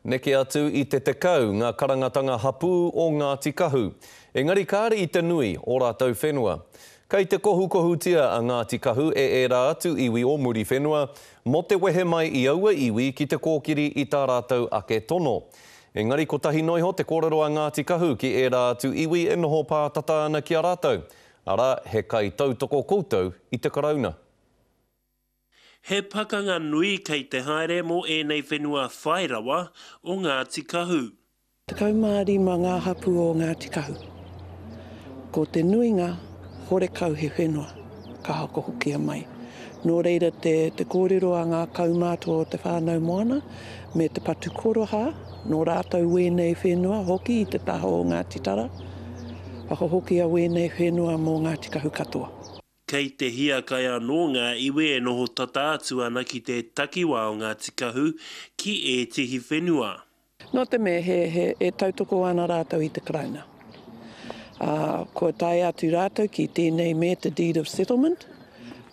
Neke atu i te tekau ngā karangatanga hapū o Ngāti Kahu, engari kāre i te nui ō rātou whenua. Kei te kohukohutia a Ngāti Kahu e ērā atu iwi o Muriwhenua mō te wehe mai i aua iwi ki te kōkiri i tā rātou ake tono. Engari kotahi noa iho te kōrero a Ngāti Kahu ki ērā atu iwi e noho pātata ana ki a rātou, arā, he kaitautoko koutou i te Karauna. He pakanga nui kei te haere mō ēnei whenua whai rawa o Ngāti Kahu. 15 ngā hapū o Ngāti Kahu. Ko te nuinga, horekau he whenua, ka hoko hokia mai. Nō reira te kōrero a ngā kaumātua o te whānau moana me te patu korohā, nō rātou wēnei whenua hoki i te taha o Ngāti Tara, whakahokia wēnei whenua mō Ngāti Kahu katoa. Kei te hiakai anō ngā iwi e noho tata atu ana ki te takiwā o Ngāti Kahu ki ētehi whenua. Nō te mea he, he, e tautoko ana rātou i te Karauna, ā, kua tae atu rātou ki tēnei me te Deed of Settlement,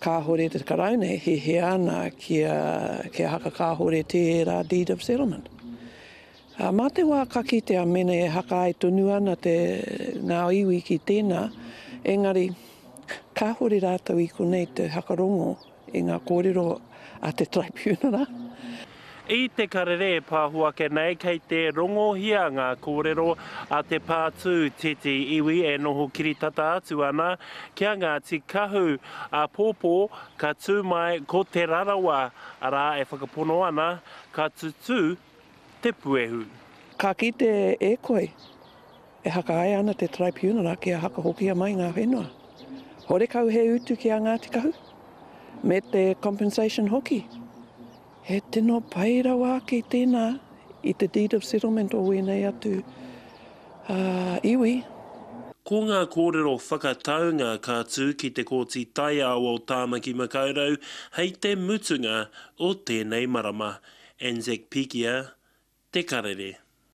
kāhore te Karauna e hiahia ana kia, kia hakakāhore tērā Deed of Settlement. Ā, mā te wā ka kitea mēnei e hakaai tonu ana te, ngā iwi ki tēnā, engari, kāhore rātou i konei te whakarongo i ngā kōrero a te Tribunara. I te karere e pāho ake nei, kei te rongohia ngā kōrero a te pātū titi iwi e noho kiritata atu ana ki a Ngāti Kahu, āpōpō, ka tū mai ko Te Rarawa, arā, e whakapono ana, ka tutū te puehu. Ka kite e koe, e hakahae ana te Tribunal ake a Hakahokia mai ngā whenua. Horekau he utu ki a Ngāti Kahu, me te compensation hoki. He tino pai rawa ake tēnā i te Deed of Settlement o wēnei atu iwi. Ko ngā kōrero whakataunga ka tū ki te Kōti Taiao o Tāmaki Makaurau hei te mutunga O tēnei marama, Anzac Pigia, Te Karere.